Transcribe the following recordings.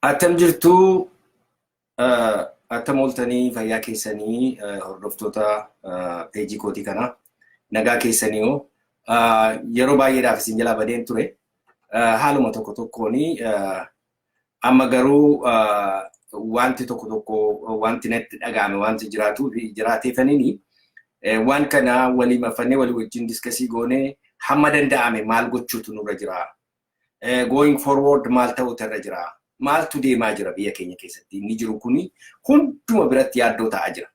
Attam jirtu attam ooltanii fayyaa keessanii hordoftoota peejii kootii kana nagaa keessanii hoo yeroo baay'eedhaaf isin jalaa badeen ture haaluma tokko tokkoon amma garuu wanti tokko tokko wanti natti dhaga'ame wanti jiraatu jiraateefaniini waan kana walii mafannee walii wajjin diskasii goonee hamma danda'ame maal gochuutu nurra jira going forward maal ta'uutu irra jira? Maaltu deemaa jira biyya keenya keessatti? Inni jiru kuni hunduma biratti yaaddoo ta'aa jira.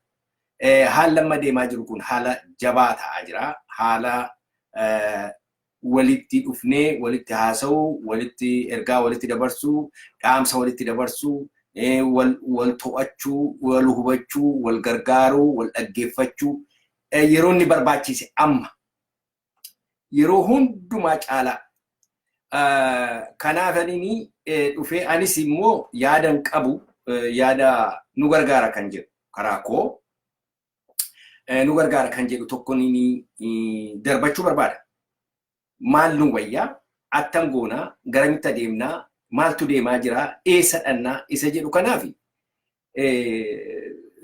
Haalli amma deemaa jiru kun haala jabaa ta'aa jira. Haala walitti dhufnee walitti haasa'uu, walitti ergaa walitti dabarsuu, dhaamsa walitti dabarsuu, wal to'achuu, wal hubachuu, wal gargaaruu, wal dhaggeeffachuu yeroo inni barbaachise amma. yeroo hundumaa caalaa kanaaf ani dhufee anis immoo yaadan qabu yaada nu gargaara kan jedhu karaa koo nu gargaara kan jedhu tokko ni darbachuu barbaada. Maal nu wayyaa attam goonaa garamitti adeemnaa maaltu deemaa jiraa eessa dhannaa isa jedhu kanaafi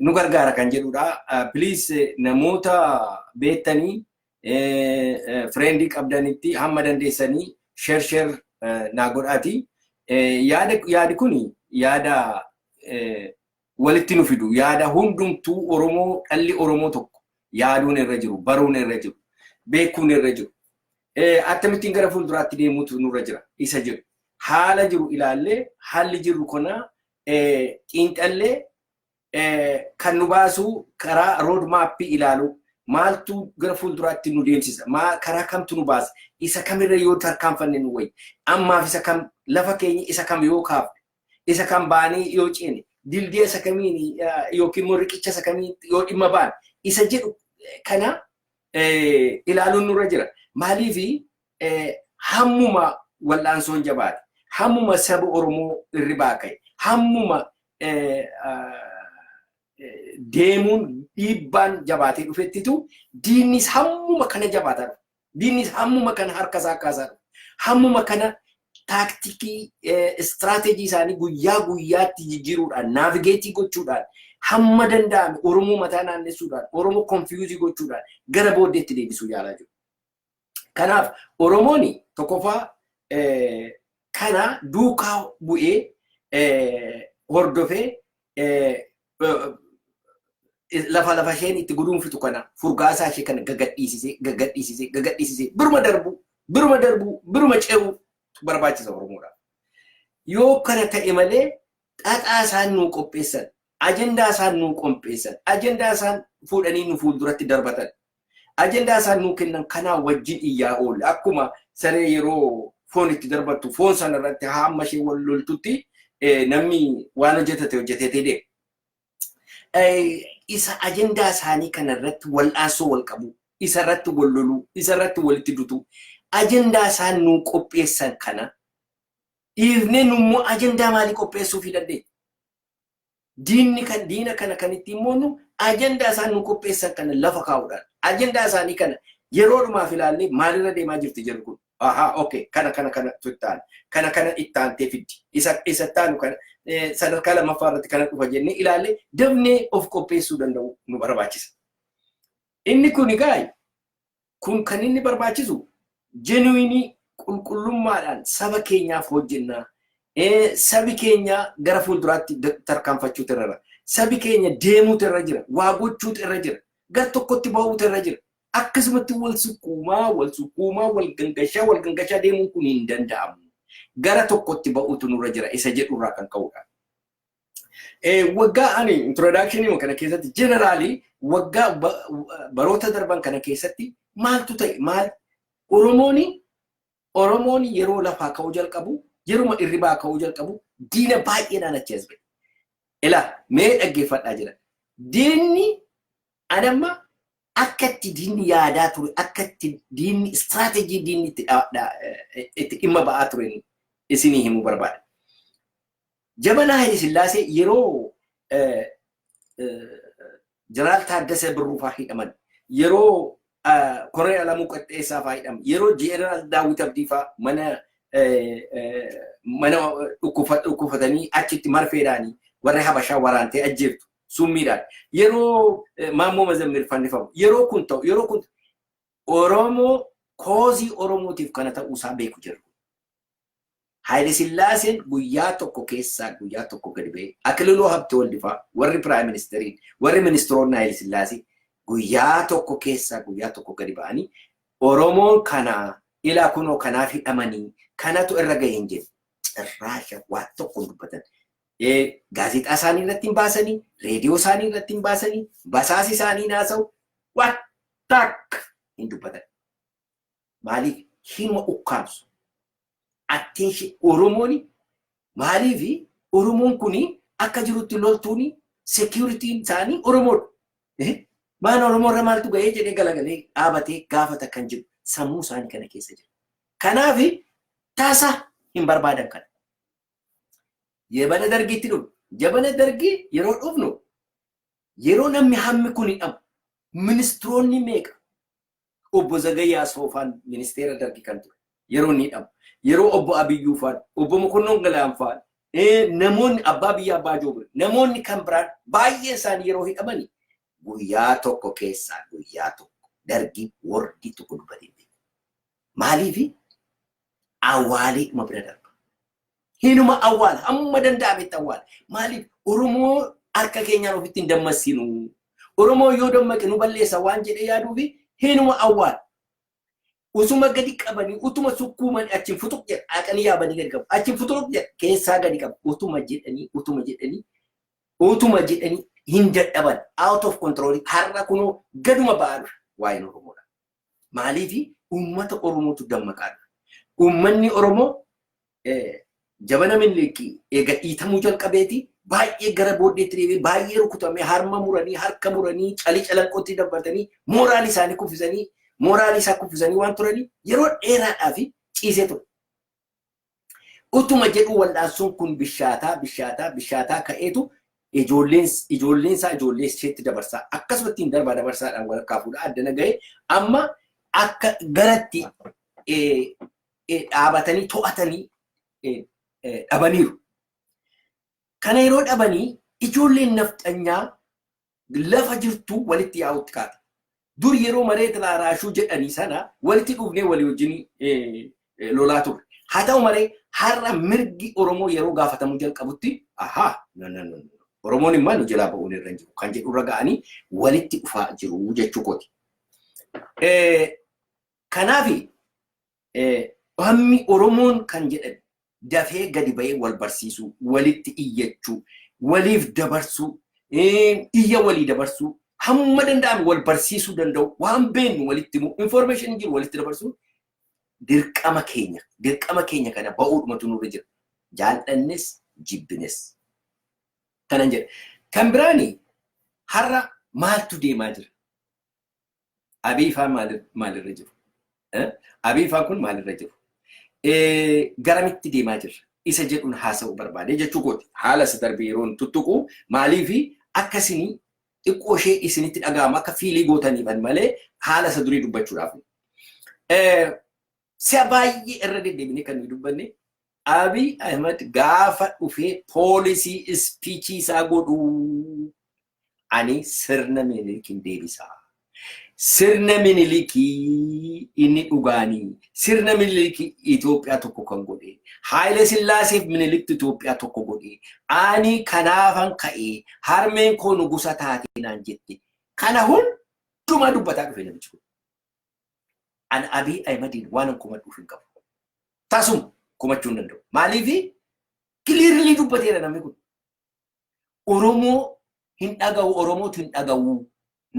nu gargaara kan jedhudha. Please namoota beektanii fireendii qabdanitti hamma dandeessanii share share naa godhaati. Yaadi kun yaada walitti nu fidu yaada hundumtuu Oromoo dhalli Oromoo tokko yaaduun irra jiru baruun irra jiru beekuun irra jiru akkamittiin gara fuulduraatti deemuutu nurra jira isa jiru haala jiru ilaallee haalli jiru kana xiinxallee kan nu baasuu karaa rood maappii ilaaluu maaltu gara fuulduraatti nu deemsisa karaa kamtu nu baasa isa kamirra yoo tarkaanfanne nu wayya ammaaf isa kam lafa keenya isa kam yoo kaafne isa kam baanii yoo ceene dildiya isa kamiin yookiin immoo riqicha isa kamiin yoo dhimma baane isa jedhu kana ilaaluun nurra jira maaliif hammuma wal'aansoon jabaate, hammuma saba Oromoo irribaa ka'e, hammuma deemuun dhiibbaan jabaatee dhufettitu diinnis hammuma kana jabaataa dhufa. Diinnis hammuma kana harka isaa kaasaa dhufa. Hammuma kana taaktikii istiraateejii isaanii guyyaa guyyaatti jijjiiruudhaan naavigeetii gochuudhaan hamma danda'ame Oromoo mataa naannessuudhaan Oromoo konfiyuuzii gochuudhaan gara booddeetti deebisuu yaalaa jiru. Kanaaf Oromoon tokkoffaa kana duukaa bu'ee hordofee lafa lafa isheen itti guduunfitu kana furgaasaa ishee kana gagadhiisisee gagadhiisisee gagadhiisisee biruma darbuu biruma darbuu biruma ce'uu barbaachisa Oromoodhaaf. Yoo kana ta'e malee xaxaa isaan nuu qopheessan ajandaa isaan nuu qompeessan, ajandaa isaan fuudhanii nu fuulduratti darbatan, ajandaa isaan nuu kennan kanaa wajjin iyyaa oolla. Akkuma saree yeroo foon itti darbattu foon sana irratti hamma ishee wal loltutti namni waan hojjetate hojjetetee deema. Isa ajandaa isaanii kana irratti wal'aansoo wal qabu, isa irratti wal loluu, isa irratti walitti dutu, ajandaa isaan nuu qopheessan kana dhiifnee nu immoo ajandaa maalii qopheessuufii dandeenya? Diinni kan diina kana kan ittiin moonnu ajandaa isaan nu qopheessan kana lafa kaa'uudhaan. Ajandaa isaanii kana yeroo dhumaaf ilaallee maalirra deemaa jirti jedhu kun. Ahaa okay kana kana kana tuttaan kana kana ittaantee fiddi isa isa ittaanu kana sadarkaa lammaffaa irratti kana dhufa jennee ilaallee dafnee of qopheessuu danda'u nu barbaachisa. Inni kun egaa Kun kan inni barbaachisu genuinii qulqullummaadhaan saba keenyaaf hojjennaa. Sabi keenya gara fuulduraatti tarkaanfachuutu irra jira. Sabi keenya deemuutu irra jira. Waa gochuutu irra jira. Gar tokkotti bahuutu irra jira. Akkasumatti wal sukkuumaa, wal sukkuumaa, wal gangashaa, wal gangashaa deemuun kun hin danda'amu. Gara tokkotti bahuutu nurra jira isa jedhurraa kan ka'udha. Waggaa ani introduction kana keessatti generally waggaa baroota darban kana keessatti maaltu ta'e maal Oromoon Oromoon yeroo lafaa ka'uu jalqabu yeruma irribaa ka'uu jalqabu diina baay'eedhaan achi as ba'e. Ilaa mee dhaggeeffadhaa jira. Diinni anamma akka itti diinni yaadaa ture akka itti diinni istiraatejii diinni itti dhimma ba'aa ture isinii himuu barbaada. Jabanaa Hayile Sillaasee yeroo Jeneraal Taaddasee Birruu fa'aa hidhaman, yeroo Koloneel Alamuu Qixxeessaa fa'aa hidhaman, yeroo Jeneraal Daawwit Abdii fa'aa mana mana dhukkufatanii achitti marfeedhaan warri Habashaa waraantee ajjeeftu summiidhaan yeroo Maammoo Mazammir fannifamu yeroo kun ta'u yeroo kun Oromoo koozii Oromootiif kana ta'uu isaa beeku jiru. Hayilesillaaseen guyyaa tokko keessaa guyyaa tokko gadi ba'ee, Akililuu Habtewald faa, warri Piraayim Ministeriin, warri Ministiroonni Hayilesillaasee guyyaa tokko keessaa guyyaa tokko gadi ba'anii Oromoon kana ilaa kunoo kanaaf hidhamanii kanatu irra gahe hin jenne. Cirraasha waan tokko hin dubbatan. Gaazexaa isaanii irratti hin baasanii, reediyoo isaanii irratti hin baasanii, basaasi isaanii hin haasa'u, waan takka hin dubbatan. maaliif hinuma ukkaamsu. Attention Oromoon maaliif Oromoon kun akka jirutti loltuun securitiin isaanii Oromoodha. Eh, Maan Oromoo irra maaltu ga'ee jedhee galagalee dhaabatee gaafata kan jiru sammuu isaanii kana keessa jira. Kanaaf taasa hin barbaadan kana. Jabana dargiitti dhufnu. Jabana dargii yeroo dhufnu yeroo namni hammi kun hidhamu ministiroonni meeqa Obbo Zagayyaa Soofaan ministeera dargi kan ture yeroo inni hidhamu. Yeroo obbo Abiyyuu faan, obbo Mokonnon Galaan faan, namoonni abbaa biyyaa abbaa joobir, namoonni kan biraan baay'ee isaanii yeroo hidhamani guyyaa tokko keessaa guyyaa tokko dargi wordi tokko dubbatee beeku. Maaliifi awwaalee dhuma bira darba. Hinuma awwaala hamma danda'ametti awwaala. Maaliif Oromoo harka keenyaan ofitti hin dammassinu. Oromoo yoo dammaqe nu balleessa waan jedhee yaaduu fi hinuma awwaala. Usuma gadi qabanii utuma sukkuumanii achiin futuq jedha haqanii yaabanii gadi qabu. Achiin futuq jedha keessaa gadi qabu. Utuma jedhanii utuma jedhanii utuma jedhanii hin dadhaban out of control har'a kunoo gaduma ba'aa dhufe waa'een Oromoodha. Maaliif uummata Oromootu dammaqaa dhufe. Uummanni Oromoo jabana Minilik eega dhiitamuu jalqabeeti baay'ee gara booddeetti deebi'ee baay'ee rukutamee harma muranii harka muranii calii calanqootti dabbartanii mooraal isaanii kuffisanii mooraal isaa kuffisanii waan turanii yeroo dheeraadhaaf ciisee ture. Utuma jedhuu wal'aansoon kun bishaataa bishaataa bishaataa ka'eetu ijoolleen ijoolleen isaa ijoollee isheetti dabarsaa akkasuma ittiin darbaa dabarsaadhaan walakkaa fuudhaa addana ga'ee amma akka garatti eh, eh, dhaabatanii to'atanii eh, eh, dhabaniiru. Kana yeroo dhabanii ijoolleen nafxanyaa lafa jirtu walitti yaa'utti kaate. Dur yeroo mareet laaraashuu jedhanii sana walitti dhufnee walii wajjin eh, eh, lolaa turre. Haa ta'u malee har'a mirgi Oromoo yeroo gaafatamuu jalqabutti ahaa no, no, no, no. Oromoon immoo nu jalaa ba'uun irra hin jiru kan jedhu irra ga'anii walitti dhufaa jiru jechuu kooti. Eh, Kanaafi Bammi Oromoon kan jedhan dafee gadi ba'ee wal barsiisuu, walitti iyyachuu, waliif dabarsuu, iyya walii dabarsuu, hamma danda'ame wal barsiisuu danda'uu, waan beeknu walitti himuu, information jiru walitti dabarsuun dirqama keenya. Dirqama keenya kana ba'uudhumatu nurra jira. Jaallannes jibbines. Kanan jedha. Kan biraani har'a maaltu deemaa jira? Abiy faa maalirra jiru? Abiy faa kun maalirra jiru? Garamitti deemaa jirra? Isa jedhuun haasa'uu barbaade jechuu kooti. Haala isa darbe yeroon tuttuqu maaliif akka isin xiqqoo ishee isinitti dhaga'amu akka fiilii gootaniifan malee haala isa durii dubbachuudhaaf. Si'a baay'ee irra deddeebinee kan nuyi dubbanne Abiy Ahmed gaafa dhufee poolisii ispiichii isaa godhuu ani sirna minilikin deebisa. Sirna minilikii inni dhugaanii sirna minilikii Itoophiyaa tokko kan godhe Haayila Sillaaseef miniliktu Itoophiyaa tokko godhe ani kanaafan ka'ee harmeen koo nugusa taatee naan jette kana hundumaa dubbataa dhufe namichi kun. An Abiy Ahimadiin waanan komadhuuf hin qabu. Tasuma komachuu hin danda'u. Maaliif kiliirlii dubbateera namni kun. Oromoo hin dhagahu Oromootu hin dhagahu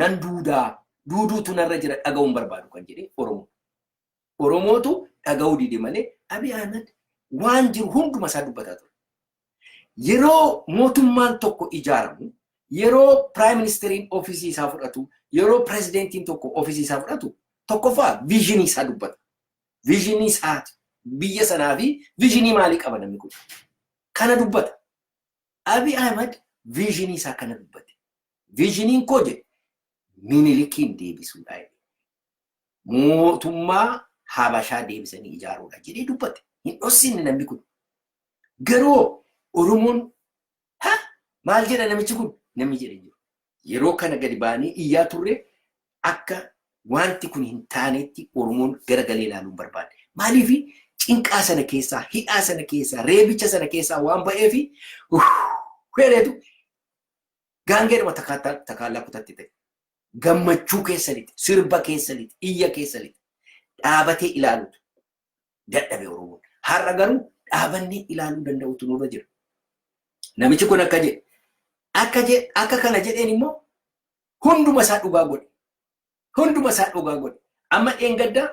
nan duudaa duuduutu narra jira dhagahuun barbaadu kan jedhe Oromoo. Oromootu dhagahuu dide malee Abiy Ahmed waan jiru hunduma isaa dubbataa ture. Yeroo mootummaan tokko ijaaramu yeroo piraayim ministeriin ofiisii isaa fudhatu yeroo pirezidentiin tokko ofiisii isaa fudhatu tokkoffaa viizhinii isaa dubbata. Vision isaati. Biyya sanaa fi vision maalii qaba namni kun? Kana dubbata. Abi Ahmed vision isaa kana dubbate. Visioniin koo jedhe minilikiin deebisuudha. Mootummaa Habashaa deebisanii ijaaruudha jedhee dubbate. Hin dhossinne namni kun. Garuu Oromoon Ha! Maal jedha namichi kun? Namni jedhe hin jiru. Yeroo kana gadi baanee iyyaa turre akka wanti kun hin taanetti Oromoon gara galee ilaaluu hin barbaanne. Maaliif cinqaa sana keessaa, hidhaa sana keessaa, reebicha sana keessaa waan ba'eef heereetu gaangeedhuma takaataa takaallaa kutatti ta'e. Gammachuu keessanitti, sirba keessanitti, iyya keessanitti dhaabatee ilaalutu dadhabe Oromoon. Har'a garuu dhaabannee ilaaluu danda'utu nurra jira. Namichi kun akka jedhe akka jedhe akka kana jedheen immoo hunduma isaa dhugaa godhe. Hunduma isaa dhugaa godhe. Amma dheengadda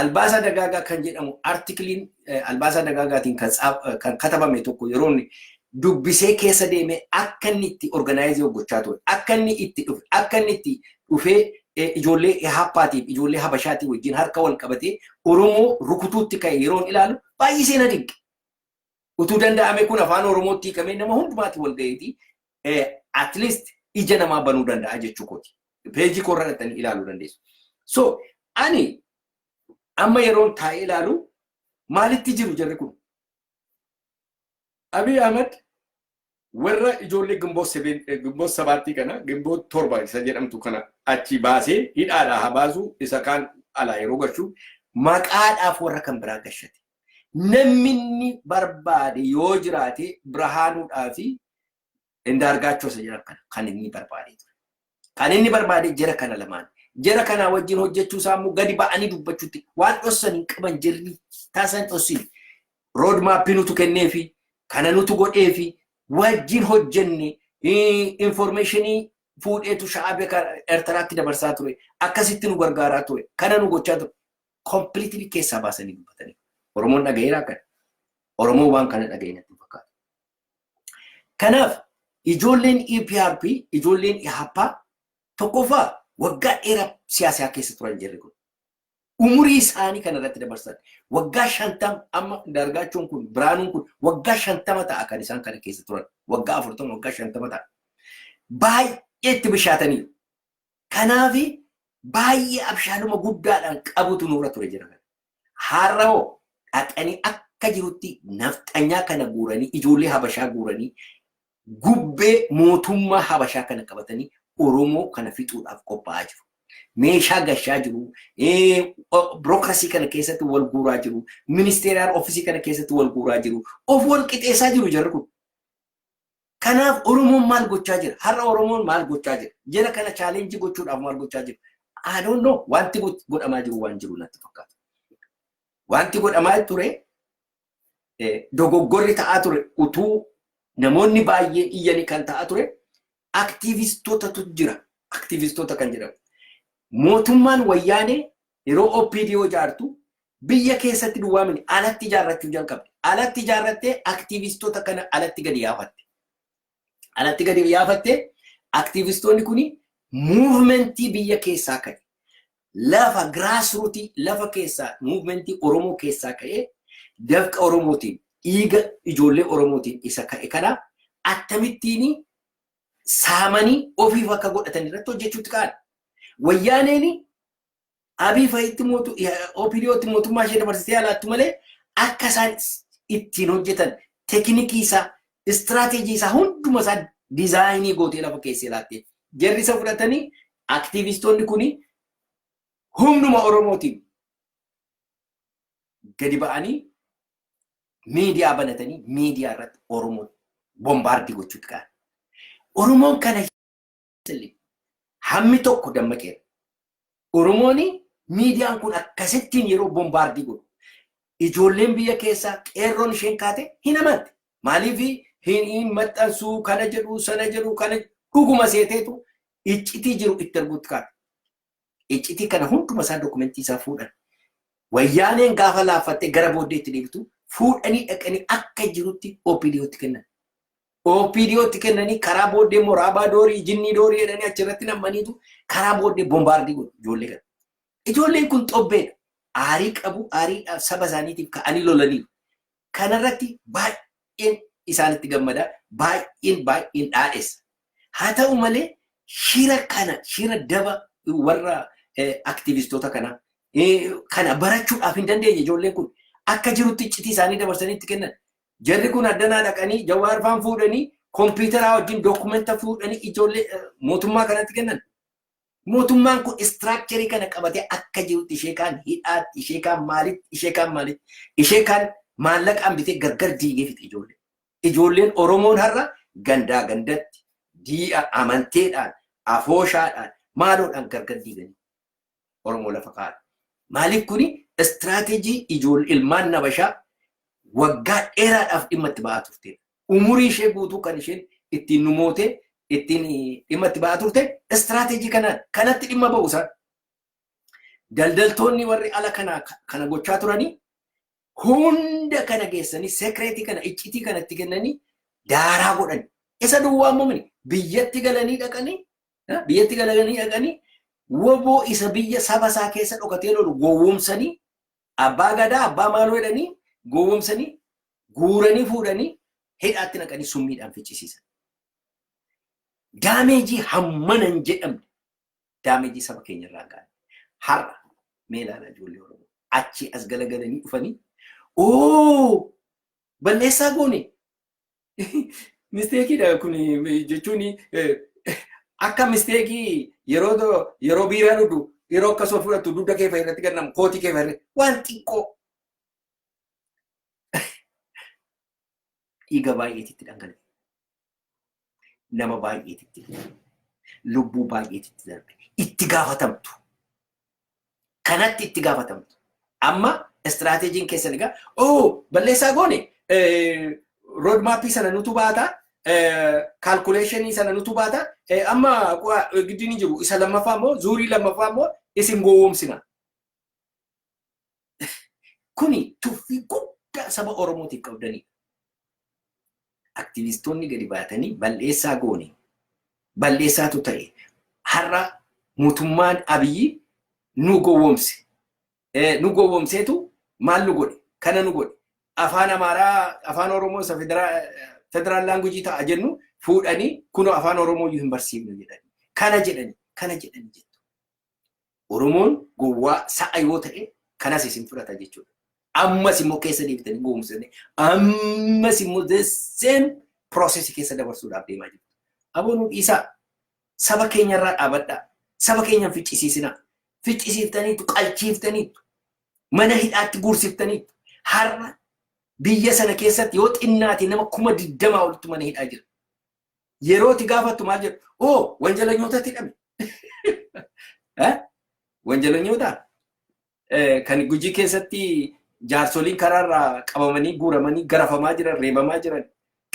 albaasaa dagaagaa kan jedhamu artikiliin albaasaa dagaagaatiin kan tsaaf- kan katabame tokko yeroo inni dubbisee keessa deemee akka inni itti organaayizii hojjechaa ture, akka inni itti dhufe, akka inni itti dhufee eh, ijoollee Ehaappaatiif ijoollee Habashaatii wajjin harka wal qabatee Oromoo rukutuutti ka'e yeroon ilaalu baay'isee na dinqe. Utuu danda'ame kun afaan Oromootti hiikamee nama hundumaatiin wal gaheeti at least ija namaa banuu danda'a jechuu kooti. Peejii koorra dhaqxanii ilaaluu dandeessu. So ani amma yeroon taa'ee ilaalu maalitti jiru jarri kun? Abiy Ahmed warra ijoollee Ginboot Sebeen- eh, Ginboot sabaattii kana Ginboot torba isa jedhamtu kana achi baasee hidhaadhaa haa baasuu isa kaan alaa yeroo gashu maqaadhaaf warra kan biraa gashate. Namni inni barbaade yoo jiraate Birhaanuudhaa fi Indaargaachoo isa jedhan kana kan inni barbaade ture. Kan inni barbaade jara kana lamaan. Jara kanaa wajjin hojjechuu isaa immoo gadi ba'anii dubbachuutti waan dhossan hin qaban jirri taasan hin dhossin. Rood maappii nutu kennee fi kana nutu godhee fi wajjin hojjenne informeeshinii fuudheetu sha'aabee Eertaraatti dabarsaa ture. Akkasitti nu gargaaraa ture. Kana nu gochaa ture. Kompiliitilii keessaa baasanii dubbatanii. Oromoon dhagaheeraa kana. Oromoon waan kana dhagahee natti fakkaata. Kanaaf ijoolleen EPRP ijoolleen Ihaappaa tokkoffaa waggaa dheeraa siyaasaa keessa turan jirri kun. Umurii isaanii kana irratti dabarsan waggaa shantama amma dargaachuun kun biraanuun kun waggaa shantama ta'a kan isaan kana keessa turan waggaa afurtama waggaa shantama ta'a. Baay'ee itti bishaatanii kanaafi baay'ee abshaaluma guddaadhaan qabutu nurra ture jira. Har'a hoo dhaqanii akka jirutti nafxanyaa kana guuranii ijoollee habashaa guuranii gubbee mootummaa habashaa kana qabatanii Oromoo kana fixuudhaaf qophaa'aa jiru. Meeshaa gashaa jiru, birookrasii kana keessatti wal guuraa jiru, ministeeraan oofisii kana keessatti wal guuraa jiru, of wal qixeessaa jiru jarri kun. Kanaaf Oromoon maal gochaa jira? Har'a Oromoon maal gochaa jira? Jara kana challenge gochuudhaaf maal gochaa jira? I don't know. Wanti go- godhamaa jiru waan jiru natti fakkaata. Wanti godhamaa ture eh, dogoggorri ta'aa ture utuu namoonni baay'een iyyanii kan ta'aa ture aktiivistotatu jira. Aktiivistoota kan jedhamu. Mootummaan wayyaanee Yeroo OPDO ijaartu biyya keessatti duwwaa miti alatti ijaarrachuu jalqabde. Alatti ijaarrattee aktiivistoota kana alatti gadi yaafatte. Alatti gadi yaafattee aktiivistoonni kun muuvimentii biyya keessaa ka'e. Lafa giraasruutii lafa keessaa muuvimentii Oromoo keessaa ka'ee dafqa Oromootiin dhiiga ijoollee Oromootiin isa ka'e kana akkamittiin saamanii ofiif akka godhatan irratti hojjechuutti ka'an. Wayyaaneen Abiy fa'itti mootu OPDOtti mootummaa ishee dabarsitee alaattu malee akka isaan ittiin hojjetan tekinikii isaa istiraateejii isaa hunduma isaa dizaayinii gootee lafa keessee laattee jarri isa fudhatanii aktiivistoonni kun humnuma Oromootiin gadi ba'anii miidiyaa banatanii miidiyaa irratti Oromoo bombaardii gochuutti ka'an. Oromoon kana silly. Hammi tokko dammaqeera. Oromoon miidiyaan kun akkasittiin yeroo bombaardii godhu. Ijoolleen biyya keessaa qeerroon isheen kaate hin amante. Maaliif hin maxxansuu kana jedhu sana jedhu kana dhuguma seeteetu iccitii jiru itti arguutti kaate. iccitii kana hunduma isaa dokumentii isaa fuudhan. Wayyaaneen gaafa laaffattee gara booddee itti deebitu fuudhanii dhaqanii akka jirutti OPDOtti kennan. OPDOtti kennanii karaa booddee immoo raabaa doorii, jinnii doorii jedhanii achirratti nammaniitu karaa booddee bombaardii godhu ijoollee kana. Ijoolleen kun xobbeedha. Aarii qabu, aariidhaaf saba isaaniitiif ka'anii lolaniiru. Kana irratti baay'een isaanitti gammada, baay'een baay'een dhaadhessa. Haa ta'u malee shira kana, shira daba warra aktivistoota kanaa kana barachuudhaaf hin dandeenye ijoolleen kun akka jirutti iccitii isaanii dabarsanii itti kennan. Jarri kun addanaa dhaqanii Jawaar faan fuudhanii kompiitaraa wajjin dookumenta fuudhanii ijoollee mootummaa kanatti kennan. Mootummaan kun istiraakcherii kana qabatee akka jirutti ishee kaan hidhaatti, ishee kaan maalitti, ishee kaan maalitti, ishee kaan maallaqaan bitee gargar diigee fixe ijoollee. Ijoolleen Oromoon har'a gandaa gandatti, dii'a amanteedhaan, afooshaadhaan, maaloodhaan gargar diiganii Oromoo lafa kaa'an. Maaliif kuni istiraateejii ijoollee ilmaan nabashaa waggaa dheeraadhaaf dhimma itti ba'aa turteedha. Umurii ishee guutuu kan isheen ittiin nu mootee ittiin dhimma itti ba'aa turte istiraateejii kanaan kanatti dhimma ba'u isaan. Daldaltoonni warri ala kana kana gochaa turanii hunda kana geessanii sekireetii kana iccitii kana itti kennanii daaraa godhan. Isa duwwaa muumini biyyatti galanii dhaqanii biyyatti galanii dhaqanii woboo isa biyya saba isaa keessa dhokatee lolu gowwoomsanii Abbaa Gadaa abbaa maaloo jedhanii gowwomsanii guuranii fuudhanii hidhaatti naqanii summiidhaan ficcisiisan. Daameejii hammana hin jedhamne daameejii saba keenya irraa ga'an. Har'a mee ilaalaa ijoollee Oromoo achii as galagalanii dhufanii oo balleessaa goone Misteekiidha kun jechuun akka misteekii yeroo yeroo biiraa dhudhu yeroo akka soo fudhattu dugda kee fa'i irratti gannamu kootii kee fa'i irratti waan xiqqoo dhiiga baay'eetitti dhangala'e. Nama baay'eetitti darbe. Lubbuu baay'eetitti darbe. Itti gaafatamtu. kanatti itti gaafatamtu. Amma istiraateejiin keessan egaa oo balleessaa goone roodmaappii sana nutu baata kaalkuleeshinii sana nutu baata amma giddiin jiru isa lammaffaa immoo zuurii lammaffaa immoo isin gowwoomsina. Kuni tuffii guddaa saba Oromootiif qabdaniidha. Aktivistoonni gadi baatanii bal'eessaa goone, bal'eessaatu ta'e, har'a mootummaan Abiyyi nu gowwomse, nu gowwomseetu maal nu godhe, kana nu godhe, afaan Amaaraa, afaan Oromoo isa federaal laangujii ta'a jennu fuudhanii kunoo afaan Oromoo iyyuu hin barsiifnu jedhanii, kana jedhanii, kana jedhanii jettu. Oromoon gowwaa sa'a yoo ta'e kanas isin fudhata jechuudha. Ammas immoo keessa deebitanii goomsanii ammas immoo the same process keessa dabarsuudhaaf deemaa jirtu. Aboo nu dhiisaa saba keenyarraa dhaabadhaa. Saba keenya hin ficcisiisinaa. Ficcisiiftaniitu qalchiiftaniitu mana hidhaatti guursiftaniitu har'a biyya sana keessatti yoo xinnaate nama kuma digdamaa olitti mana hidhaa jira. Yeroo itti gaafattu maal jedhu? Oo wanjalanyootatti hidhame. Wanjalanyoota kan gujii keessatti jaarsoliin karaarraa qabamanii guuramanii garafamaa jiran reebamaa jiran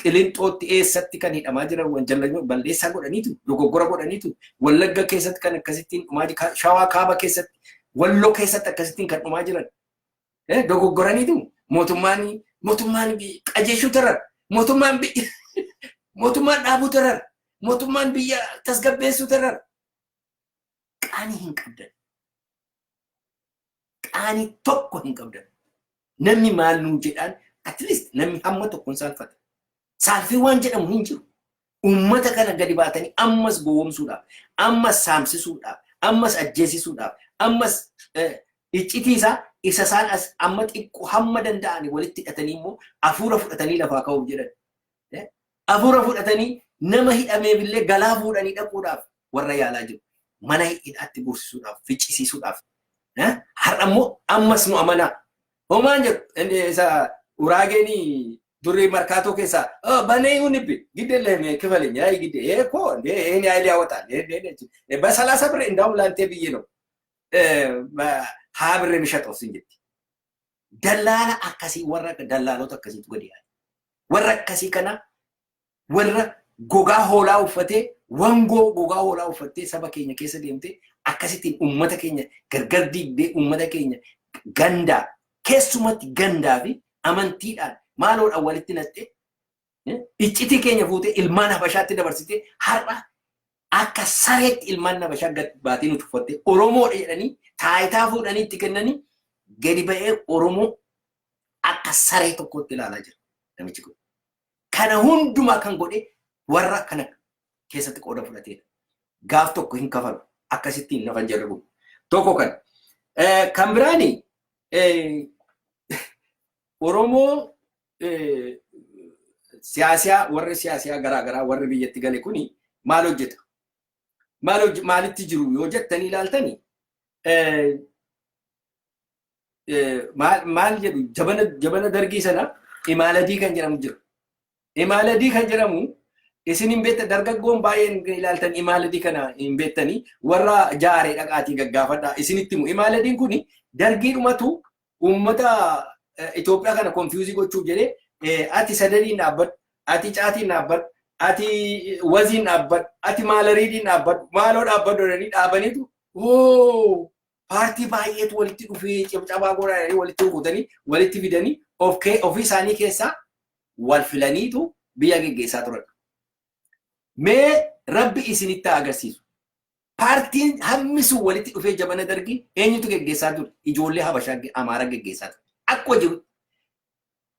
qilinxootti eessatti kan hidhamaa jiran wanjalanyoo balleessaa godhaniitu dogoggora godhaniitu wallagga keessatti kan akkasittiin dhumaa jiran shawaa kaaba keessatti walloo keessatti akkasittiin kan dhumaa jiran dogoggoraniitu mootummaan mootummaan qajeeshuu tarar mootummaan mootummaan dhaabuu tarar mootummaan biyya tasgabbeessuu tarar qaanii hin qabdan qaanii tokko hin qabdan namni maal nuu jedhaan at least namni hamma tokkoon saalfata saalfii waan jedhamu hin jiru Uummata kana gadi baatanii ammas gowwomsuudhaaf, ammas saamsisuudhaaf, ammas ajjeesisuudhaaf, ammas iccitii isaa isa isaan as amma xiqqoo hamma danda'ani walitti hidhatanii immoo hafuura fudhatanii lafaa ka'uuf jedhan. Hafuura fudhatanii nama hidhameef illee galaa fuudhanii dhaquudhaaf warra yaalaa jiru. Mana hidhaatti guursisuudhaaf, ficcisiisuudhaaf. Har'a immoo ammas nu amanaa. Homaa hin jedhu. Inni isa uraageen durri markaatoo keessaa "Oh, banee iyyuu nibbi gidde illee kifale nyaa gidde ee koo ndee ee nyaa illee hawwataa ndee ndee ndee jedhe. Basalaasa birri indaa'u laantee biyyee noo haa birri mishaxoo sin jetti. Dallaala akkasii warra dallaalota akkasiitu gadi yaa'e. Warra akkasii kana warra gogaa hoolaa uffatee wangoo gogaa hoolaa uffattee saba keenya keessa deemtee akkasittiin uummata keenya gargar diigdee uummata keenya gandaa keessumatti gandaa fi amantiidhaan maaloodhaan walitti naxxee iccitii keenya fuutee ilmaan habashaatti dabarsitee har'a akka sareetti ilmaan habashaa gad baatee nu tuffattee Oromoodha jedhanii taayitaa fuudhanii itti kennanii gadi ba'ee Oromoo akka saree tokkotti ilaalaa jira namichi kun. Kana hundumaa kan godhe warra kana keessatti qooda fudhateedha. Gaaf tokko hin kafalu. Akkasittiin nafan jarri kun. Tokko kan. Kan biraani Oromoo siyaasiyaa warri siyaasiyaa garaa garaa warri biyyatti gale kuni maal hojjeta? Maal maalitti jiru yoo jettanii ilaaltani maal jedhu jabana dargii sana imaaladii kan jedhamu jira. Imaaladii kan jedhamu isin hin beektan dargaggoon baay'een ilaaltan imaaladii kana hin beektanii warra jaaree dhaqaatii gaggaafadha isinitti himu. Imaaladiin kun dargiidhumatu uummata Itoophiyaa kana konfiyuuzii gochuuf jedhee ati sadaniin dhaabbadhu, ati caatiin dhaabbadhu, ati waziin dhaabbadhu, ati maalariidiin dhaabbadhu, maaloo dhaabbadhu jedhanii dhaabaniitu paartii baay'eetu walitti dhufee cabcabaa goona jedhanii walitti rukutanii walitti fidanii of kee- ofii isaanii keessaa wal filaniitu biyya geggeessaa turan. Mee rabbi isinitti haa agarsiisu. Paartiin hammi sun walitti dhufee jabana dargii eenyutu geggeessaa ture? Ijoollee Habashaa ge- Amaaraa geggeessaa ture. Akkuma jiru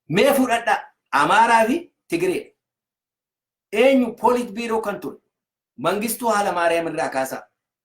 mee fudhadhaa Amaaraa fi Tigiree. Eenyu poolit biiroo kan ture? Mangistuu haala Maariyaam irraa kaasaa.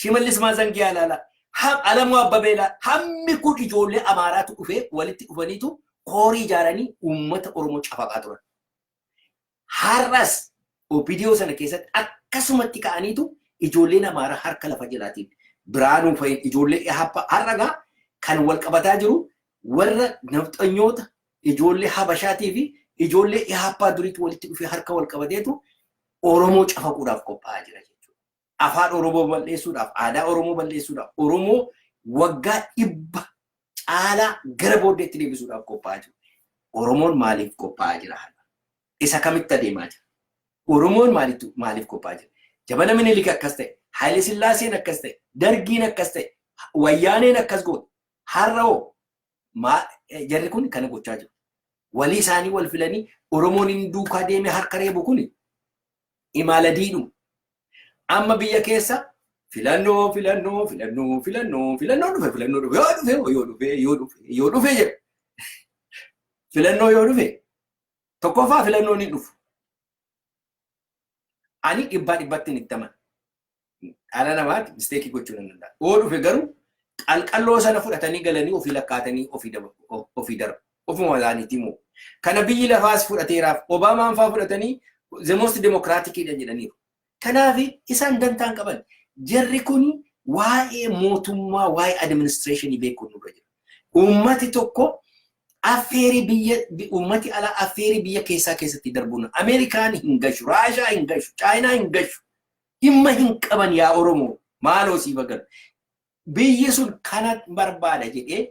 Shimallis Maazangiyaa ilaalaa, ha- Alamuu Abbabee ilaalaa, hammi kun ijoollee Amaaraatu dhufee walitti dhufaniitu koorii ijaaranii uummata Oromoo cafaqaa turan. Har'as OPDO sana keessatti akkasumatti ka'aniitu ijoolleen Amaaraa harka lafa jalaatiin biraanuu fa'iin ijoollee hapha har'a gaa kan wal qabataa jiru warra nafxanyoota ijoollee habashaatii fi ijoollee haphaa duriitti walitti dhufee harka wal qabateetu Oromoo cafaquudhaaf qophaa'aa jira jechuudha. afaan Oromoo bal'eessuudhaaf, aadaa Oromoo bal'eessuudhaaf, Oromoo waggaa dhibba caalaa gara booddeetti deebisuudhaaf qophaa'aa jiru. Oromoon maaliif qophaa'aa jira? Isa kamitti adeemaa jira? Oromoon maaliif qophaa'aa jira? Jabana Minilik akkas ta'e, Haayile Sillaaseen akkas ta'e, Dargiin akkas ta'e, Wayyaaneen akkas goote, har'a hoo jarri kun kana gochaa jiru. Walii isaanii wal filanii Oromoon hin duukaa deemee harka reebu kun imaala diidhuma. Amma biyya keessa filannoo filannoo filannoo filannoo filannoo dhufe filannoo dhufe yoo dhufe yoo dhufe yoo dhufe yoo dhufe jedha. Filannoo yoo dhufe tokkoffaa filannoon hin dhufu. Ani dhibbaa dhibbatti hin ittaman. dhala namaati misteekii gochuu nan danda'a. Yoo dhufe garuu qalqalloo sana fudhatanii galanii ofii lakkaatanii ofii daba- o- ofii darbu. Ofuma isaaniitii moo. Kana biyyi lafaas fudhateeraaf Obaamaan faa fudhatanii the most democratic dha jedhaniiru. Kanaaf isaan dantaan qaban. Jarri kun waa'ee mootummaa, waa'ee administreeshinii beekuun nurra jira. Uummati tokko affeerii biyya bi- uummati alaa affeerii biyya keessaa keessatti darbuun Ameerikaan hin gashu, Raashaa hin gashu, Chaayinaa hin gashu. Dhimma hin qaban yaa Oromoo maaloo siif agarra. Biyyi sun kana barbaada jedhee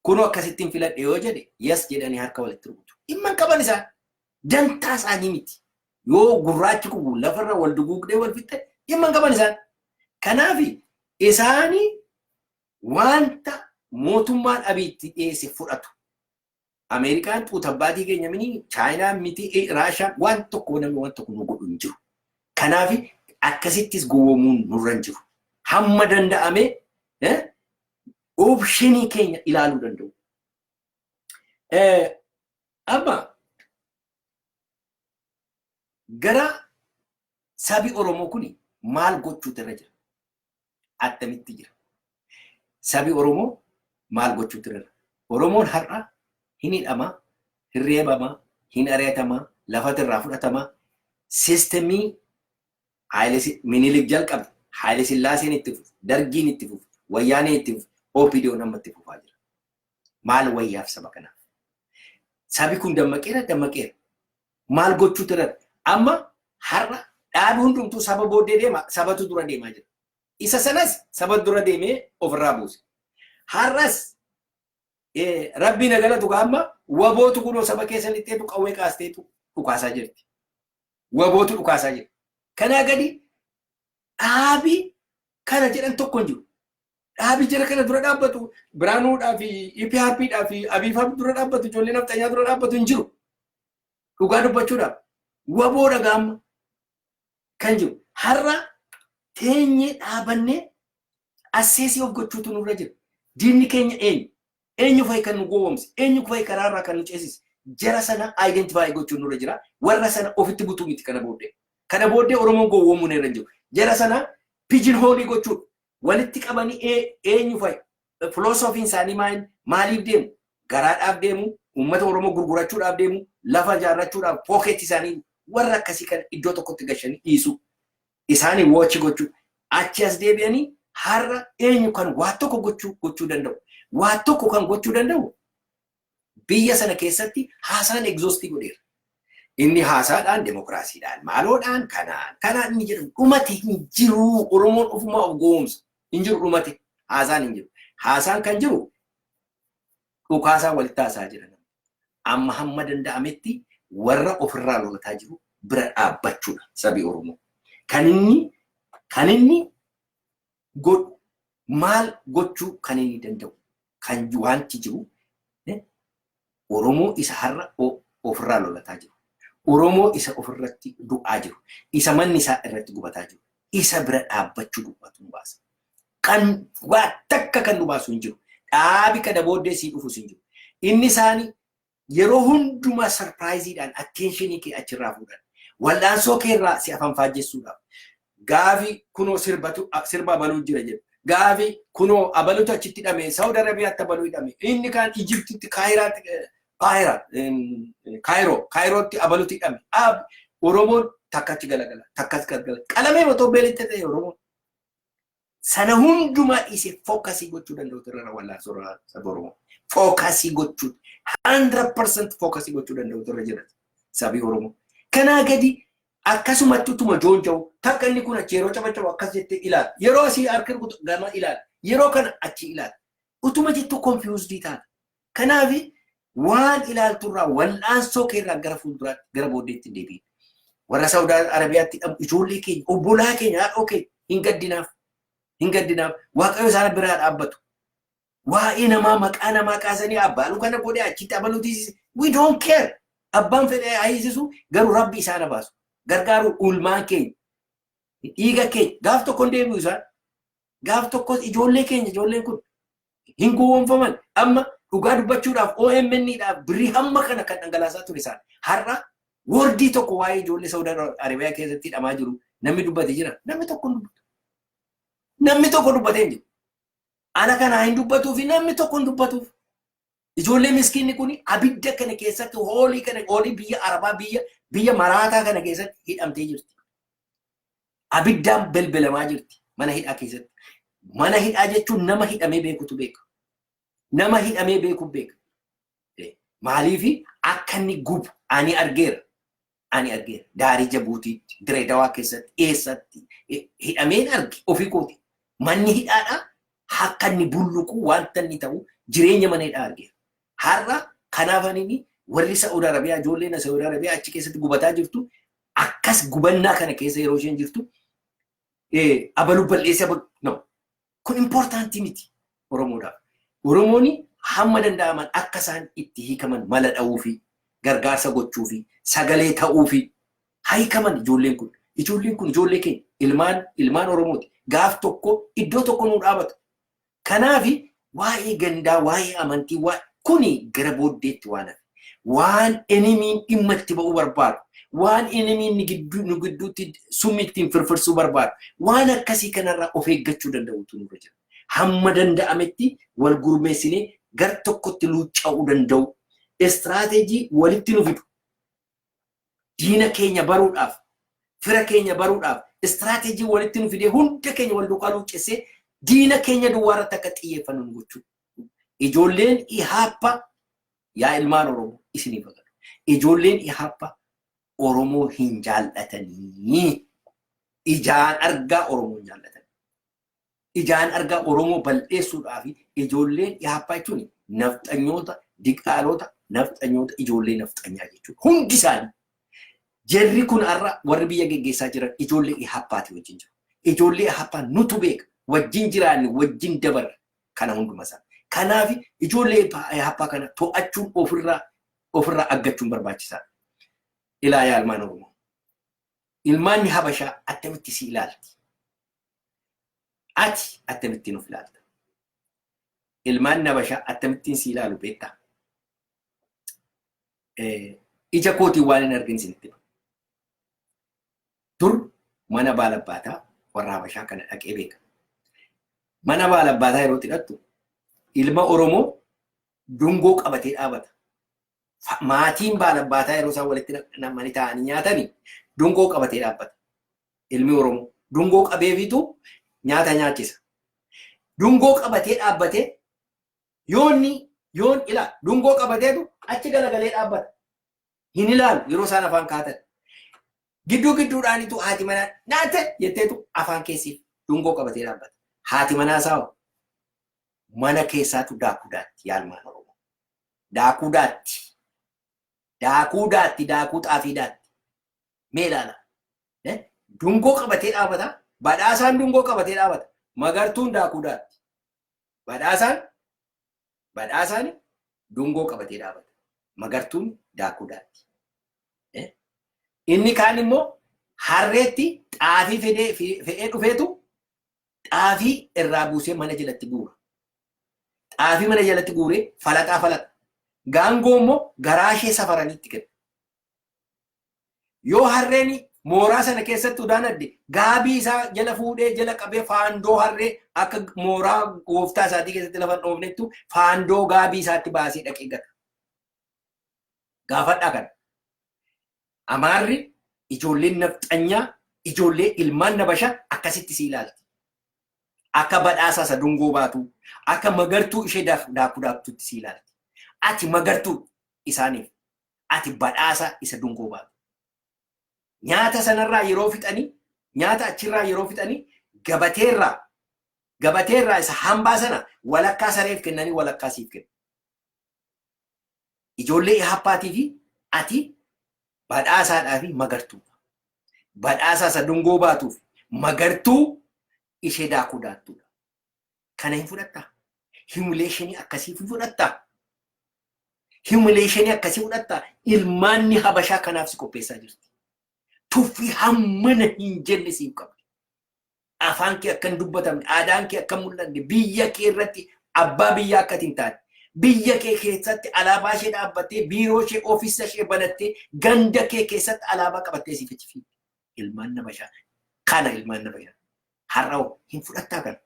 kunoo akkasittiin filadhe yoo jedhe yes jedhanii harka walitti rukutu. Dhimma hin qaban isaan dantaa isaanii miti. Yoo gurraachi kubu lafarra wal duguugdee wal fixxe dhimma hin qaban isaan. Kanaaf isaanii wanta mootummaan abiitti dhiyeesse fudhatu. Ameerikaan xuutabbaatii keenya mini Chaayinaan miti Raashaan waan tokko namni waan tokko nu godhu hin jiru. Kanaaf akkasittis gowwoomuun nurra hin jiru. Hamma danda'ame oopshinii keenya ilaaluu danda'u. Amma gara sabi Oromoo kun maal gochuutu irra jira? attamitti jira? Sabi Oromoo maal gochuutti irra? Oromoon har'a hin hidhama, hin reebama, hin ari'atama, lafati irraa fudhatama. Sistemii Minilik jalqabe, Haayile Sillaaseen itti fufe, Dargiin itti fufe, Wayyaaneen itti fufe, OPDOn amma itti fufaa jira. Maal wayyaaf saba kanaaf? Sabi kun dammaqeera, dammaqeera. maal gochuutti irra amma har'a dhaabi hundumtuu saba booddee deema sabatu dura deemaa jira. Isa sanas saba dura deemee ofirraa buuse. Har'as eh, rabbii na galatu gaa amma wabootu kunoo saba keessa lixxeetu qawwee kaasteetu dhukaasaa jirti. Wabootu dhukaasaa jira. Kanaa gadi dhaabi kana jedhan tokko hin jiru. Dhaabi jara kana dura dhaabbatu Biraanuudhaa fi EPRPdhaa fi Abiifaa dura dhaabbatu ijoollee nafxanyaa dura dhaabbatu hin jiru. Dhugaa dubbachuudhaaf waboo dhagaamma kan jiru. Har'a teenyee dhaabannee asseesii of gochuutu nurra jira. Diinni keenya eenyu? Eenyu fa'i kan nu gowwomse? Eenyu fa'i karaa irraa kan nu ceesise? Jara sana identify gochuun nurra jira. Warra sana ofitti butuu miti kana booddee. Kana booddee Oromoon gowwoomuun irra hin jiru. Jara sana pijin hoolii gochuudha. Walitti qabanii ee- eenyu fa'i? Filoosofiin isaanii maal maaliif deemu? Garaadhaaf deemu, uummata Oromoo gurgurachuudhaaf deemu, lafa ijaarrachuudhaaf pookeetti isaanii warra akkasii kana iddoo tokkotti gashanii dhiisuu. isaanii woochi gochuu achi as deebi'anii har'a eenyu kan waa tokko gochuu gochuu danda'u waa tokko kan gochuu danda'u biyya sana keessatti haasaan egzoostii godheera. Inni haasaadhaan demokiraasiidhaan maaloodhaan kanaan kanaan inni jedhamu dhumate hin jiru Oromoon ofumaa of goomsa hin jiru dhumate haasaan hin jiru haasaan kan jiru dhukaasaa wal taasaa jira. Amma hamma danda'ametti warra ofirraa lolataa jiru bira dhaabbachuudha sabi Oromoo. Kan inni kan inni godhu maal gochuu kan inni danda'u kan wanti jiru Oromoo isa har'a ofirraa lolataa jiru. Oromoo isa ofirratti du'aa jiru. Isa manni isaa irratti gubataa jiru. Isa bira dhaabbachuu dubbatu baasa. Kan waa takka kan nu baasu hin jiru. Dhaabi kana booddee sii dhufus hin jiru. Inni isaani yeroo hundumaa sarpiraayiziidhaan atteenshinii kee achirraa fuudhan. Wal'aansoo kee irraa si afanfaajjessuudhaaf. Gaafi kunoo sirbatu sirba abaluu jira jedhu. Gaafi kunoo abalutu achitti hidhame Saawud Arabiyaatti abaluu hidhame. Inni kaan Ijiptitti Kaayiraatti Kaayira Kaayiroo Kaayirootti abalutu hidhame. Ab Oromoon takkatti galagala takkas galagala. Qalamee otoo beelitti ta'e Oromoon. sana hundumaa dhiisee fookasii gochuu danda'u irra wallaansoo irra saba Oromoo. Fookasii gochuu 100% fookasii gochuu danda'u irra jira sabi Oromoo. Kanaa gadi akkasumatti utuma joonja'u takka inni kun achi yeroo cabacabu akkas jettee ilaala. Yeroo asii harka rukutu gama ilaala. Yeroo kana achi ilaala. Utuma jettu konfiyuusdii taata. Kanaaf waan ilaaltu irraa wal'aansoo kee irraa gara fuulduraatti gara booddeetti hin deebiin. Warra Saawud Arabiyaatti hidhamu ijoollee keenya obbolaa keenya haadhoo keenya hin gaddinaaf. Hin gaddinaaf. Waaqayyo isaana biraa dhaabbatu. Waa'ee namaa maqaa namaa kaasanii abbaalu kana godhe achitti abaluuti. We don't care. Abbaan fedhee haayisisu garuu rabbi isaana baasu. Gargaaru ulmaan keenya. Dhiiga keenya gaaf tokko hin deebi'u isaan. gaaf tokkos ijoollee keenya ijoolleen kun hin gowwoomfaman amma dhugaa dubbachuudhaaf OMN dhaaf birrii hamma kana kan dhangalaasaa ture isaan har'a wordii tokko waa'ee ijoollee Saudi Arabiyaa keessatti hidhamaa jiru namni dubbate jira namni tokko hin dubbatu namni tokko dubbatee hin jiru ana kanaa hin dubbatuu fi namni tokko hin dubbatuuf Ijoollee miskiinni kun abidda kana keessatti hoolii kana hoolii biyya Arabaa biyya biyya maraataa kana keessatti hidhamtee jirti. Abiddaan belbelamaa jirti mana hidhaa keessatti. Mana hidhaa jechuun nama hidhamee beekutu beeka. Nama hidhamee beeku beeka. Maaliif akka inni gubu ani argeera. ani argeera. Daarii Jabuutiitti, Direedawaa keessatti, eessatti eh, hidhameen arge ofii kooti. Manni hidhaadhaa akka inni bulluqu wanta inni ta'u jireenya mana hidhaa argeera. Har'a kanaaf ani warri Sa'uud Arabiyaa ijoolleen Sa'uud Arabiyaa achi keessatti gubataa jirtu akkas gubannaa kana keessa yeroo isheen jirtu eh, abalu bal'eessa abalu no Kun importantii miti Oromoodhaaf. Oromooni hamma danda'aman akka isaan itti hiikaman mala dha'uufi, gargaarsa gochuufi, sagalee ta'uufi. Haa hiikaman ijoolleen kun. Ijoolleen kun ijoollee keenya. Ilmaan ilmaan Oromooti. Gaaf tokko iddoo tokko nuu dhaabatu. Kanaafi waa'ee gandaa, waa'ee amantii, waa'ee kuni gara booddeetti waan hafe. waan enemiin dhimma itti ba'uu barbaadu, waan enemiin nu gidduutti summi ittiin firfirsuu barbaadu, waan akkasii kanarraa of eeggachuu danda'uutu nurra jira. Hamma danda'ametti wal gurmeessinee gar tokkotti luucca'uu danda'uu, istiraateejii walitti nu fidu, Diina keenya baruudhaaf, fira keenya baruudhaaf istiraateejii walitti nu fidee hunda keenya wal duukaa luuccessee diina keenya duwwaa irratti akka xiyyeeffannu nu gochuu. Ijoolleen Ihaappa yaa ilmaan Oromoo isiniif haa galu. Ijoolleen Ihaappa Oromoo hin jaallatanii. Ijaan argaa Oromoo hin jaallatanii. ijaan argaa Oromoo bal'eessuudhaa fi ijoolleen Ihaappaa jechuun nafxanyoota, diqaaloota, nafxanyoota, ijoollee nafxanyaa jechuudha. Hundi isaanii. Jarri kun har'a warri biyya geggeessaa jiran ijoollee Ihaappaati wajjin jiru. Ijoollee Ihaappaa nutu beeka. Wajjin jiraanne, wajjin dabarre kana hunduma isaa. Kanaaf ijoollee Ihaappaa kana to'achuun ofirraa ofirraa aggachuun barbaachisaadha. Ilaa yaa ilmaan Oromoo. Ilmaanni Habashaa attamitti si ilaalti? Ati akkamittiin of ilaalta? Ilmaan nabashaa akkamittiin si ilaalu beektaa? Ija kootiin waan hin argin isinitti hima. Dur mana baalabbaataa warra habashaa kana dhaqee beeka. Mana baalabbaataa yeroo itti dhaqxu ilma Oromoo dungoo qabatee dhaabata. maatiin baalabbaataa yeroo isaan walitti namanii taa'anii nyaatani dungoo qabatee dhaabbata. Ilmi Oromoo dungoo qabeefitu nyaata nyaachisa. Dungoo qabatee dhaabbatee yoonni yoon ilaa dungoo qabateetu achi galagalee dhaabbata. Hin ilaalu yeroo isaan afaan kaatan. Gidduu gidduudhaanitu haati manaa nyaate jetteetu afaan keessi dungoo qabatee dhaabbata. Haati manaa isaa mana keessaatu daakuu daatti yaalmaan Oromoo. Daakuu daatti. Daakuu daatti, daakuu xaafii daatti. Mee ilaala. Eh, Dungoo qabatee dhaabata. Badhaasaan dungoo qabatee dhaabata. Magartuun daakuu daatti. Badhaasaan badhaasaan dungoo qabatee dhaabata. Magartuun daakuu daatti. Eh, Inni kaan immoo harreetti xaafii fedee- fe- fe'ee dhufeetu xaafii irraa buusee mana jalatti guura. Xaafii mana jalatti guuree falaxaa falaxa. Gaangoo immoo garaa ishee safaranii itti kenna. Yoo harreen mooraa sana keessatti udaan adde gaabii isaa jala fuudhee jala qabee faandoo harree akka mooraa gooftaa isaatii keessatti lafa dhoofnettu faandoo gaabii isaatti baasee dhaqee gata. Gaafadhaa kana. Amaarri ijoolleen nafxanyaa ijoollee ilmaan nabasha akkasitti si ilaalti. Akka badhaasaa isa dungoo baatuu, akka magartuu ishee daakuu daaktutti si ilaalti. Ati magartuu isaaniif, ati badhaasaa isa dungoo baatu. Nyaata sanarraa yeroo fixanii, nyaata achirraa yeroo fixanii gabateerraa, gabateerraa isa hambaa sana walakkaa sareef kennanii walakkaa siif kennu. Ijoollee Ihappaatii fi ati badhaasaadhaa fi magartuu. Badhaasaa isa dungoo baatuu fi magartuu ishee daakuu daattuudha. Kana hin fudhattaa? Himileeshinii akkasii hin fudhattaa? Himileeshinii akkasii fudhattaa? Ilmaanni Habashaa kanaaf si qopheessaa jirti. Tuffii hammana hin jenne siif qabdi. afaan kee akka hin dubbatamne, aadaan kee akka hin mul'anne, biyya kee irratti abbaa biyyaa akka ati hin taane, biyya kee keessatti alaabaa ishee dhaabbattee, biiroo ishee, ofiisa ishee banattee, ganda kee keessatti alaabaa qabattee siif itti fiigde. Ilmaan na bashaan. Kana ilmaan na bashaan. Har'a hoo hin fudhattaa kana.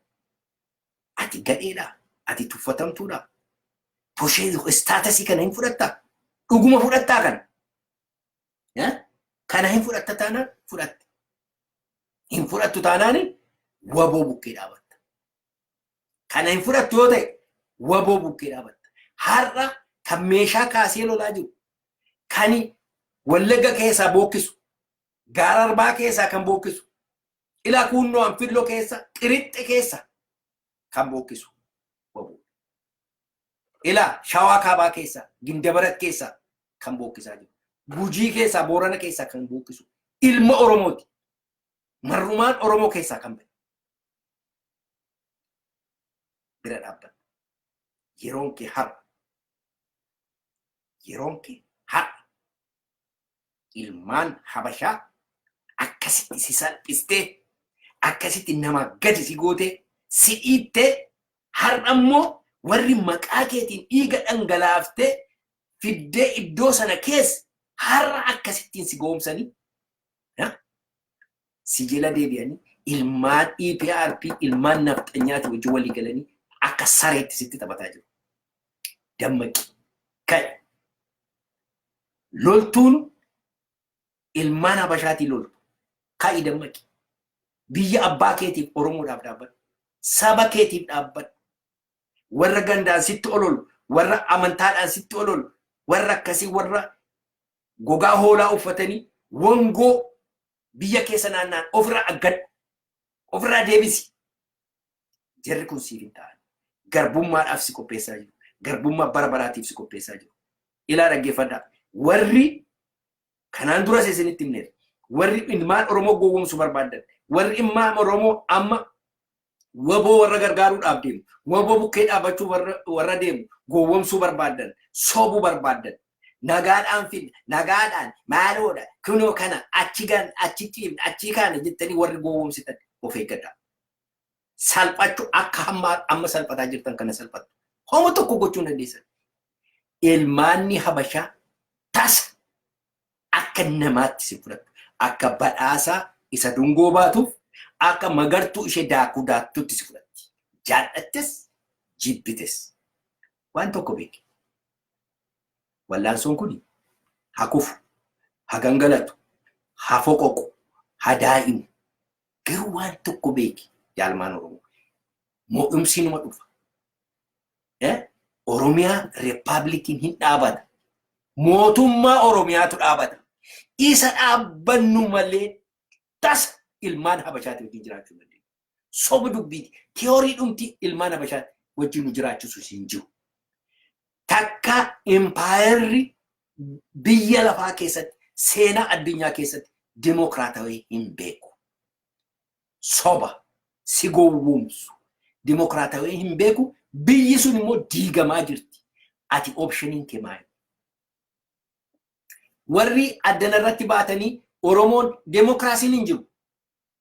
Ati gadheedhaa? Ati tuffatamtuudhaa? Poshee istaatasii kana hin fudhattaa? Dhuguma fudhattaa kana? Kana hin fudhatta taanaan fudhatte. Hin fudhattu taanaan waboo bukkee dhaabatta. Kana hin fudhattu yoo ta'e waboo bukkee dhaabatta. Har'a kan meeshaa kaasee lolaa jiru kan wallagga keessaa bookkisu gaara arbaa keessaa kan bookkisu ila kuunnoo anfilloo keessa xirixxe keessa kan bookkisu waboo. Ilaa Shawaa Kaabaa keessaa, Gindabarat keessaa kan bookkisaa jiru. Gujii keessaa, Boorana keessaa kan bookkisu ilma Oromooti. Marrumaan Oromoo keessaa kan ba'e. Bira dhaabbadhu. Yeroon kee har'a. Yeroon kee har'a. ilmaan habashaa akkasitti si salphistee akkasitti nama gadi si gootee si dhiittee har'a immoo warri maqaa keetiin dhiiga dhangalaaftee fiddee iddoo sana keessa har'a akkasittiin si goomsanii si jala deebi'anii ilmaan EPRP ilmaan nafxanyaati wajjin walii galanii akka sareetti sitti taphataa jiru. Dammaqi. Ka'e. loltuun ilmaan habashaatii loltu ka'i dammaqi biyya abbaa keetiif oromoodhaaf dhaabbadhu saba keetiif dhaabbadhu warra gandaan sitti ololu warra amantaadhaan sitti ololu warra akkasii warra gogaa hoolaa uffatanii wangoo biyya keessa naannaan ofirraa aggadhu ofirraa deebisi Jarri kun siif hin ta'an. Garbummaadhaaf si qopheessaa jiru. Garbummaa bara baraatiif si qopheessaa jiru. Ilaa dhaggeeffadhaa. Warri kanaan duras isinitti himneera. Warri ilmaan Oromoo gowwoomsu barbaaddan. Warri ilmaan Oromoo amma waboo warra gargaaruudhaaf deemu. Waboo bukkee dhaabbachuu warra, warra deemu. Gowwoomsuu barbaaddan. Sobuu barbaaddan. Nagaadhaan fidna. Nagaadhaan. Maaloodha. Kunoo kana. Achi gan. Achi ciifna. Achi kaana jettanii warri gowwoomsitan of eeggadhaa. salphachu akka hamma amma salphataa jirtan kana salphatu homo tokko gochuu dandeessan ilmaanni habashaa tasa akka namaatti si fudhatu akka badhaasaa isa dungoo baatuuf akka magartuu ishee daakuu daaktutti si fudhatti jaallattes jibbites waan tokko beeki wallaansoon kun hakufu hagangalatu hafoqoqu hadaa'imu Garuu waan tokko beeki jaalmaan Oromoo. Mo'umsi numa dhufa. Oromiyaa Rippaabilikiin hin dhaabata. Mootummaa Oromiyaatu dhaabata. Isa dhaabbannu malee tasa ilmaan Habashaati wajjin jiraachuu dandeenya. Soba dubbiiti. Tiyoorii dhumti ilmaan Habashaati wajjin nu jiraachisu hin jiru. takka impaayerri biyya lafaa keessatti seenaa addunyaa keessatti dimokiraatawee hin beeku. Soba si gowwoomsu dimokiraatawee hin beeku biyyi sun immoo diigamaa jirti. Ati opshiniin kee maali? Warri addana irratti baatanii Oromoon demokiraasiin hin jiru.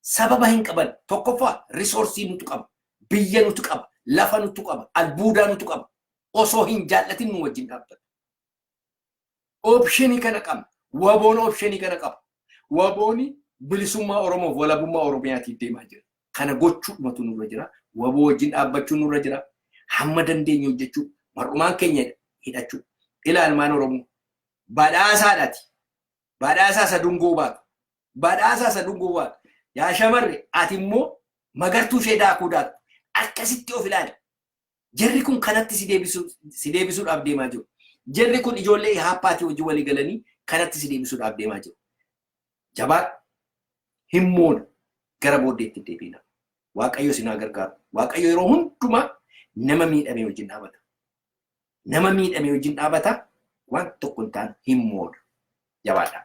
Sababa hin qaban. Tokkoffaa risoorsii nutu qaba. Biyya nutu qaba. Lafa nutu qaba. Albuudaa nutu qaba. Osoo hin jaallatin nu wajjin dhaabbatu. Opshinii kana qabna. Waboon opshinii kana qaba. Wabooni bilisummaa Oromoof walabummaa Oromiyaatiif deemaa jira. Kana gochuudhumatu nurra jira. Waboo wajjin dhaabbachuu nurra jira. Hamma dandeenye hojjechuu. Mar'umaan keenya hidhachuu. Ila almaan Oromoo. Badhaasaadhaati. Badhaasaa isa dungoo baatu. Badhaasaa isa dungoo baatu. Yaa shamarre ati immoo magartuu ishee daakuu daaktu. Akkasitti of ilaali. Jarri kun kanatti si deebisuu- si deebisuudhaaf deemaa jiru. Jarri kun ijoollee ihaappaatii wajjin walii galanii kanatti si deebisuudhaaf deemaa jiru. Jabaadhu. Hin moona. Gara booddeetti hin deebiina. Waaqayyo isin haa gargaaru. Waaqayyo yeroo hundumaa nama miidhamee wajjin dhaabata. Nama miidhame wajjin dhaabata waan tokko hin taane hin moodu. Jabaadhaa.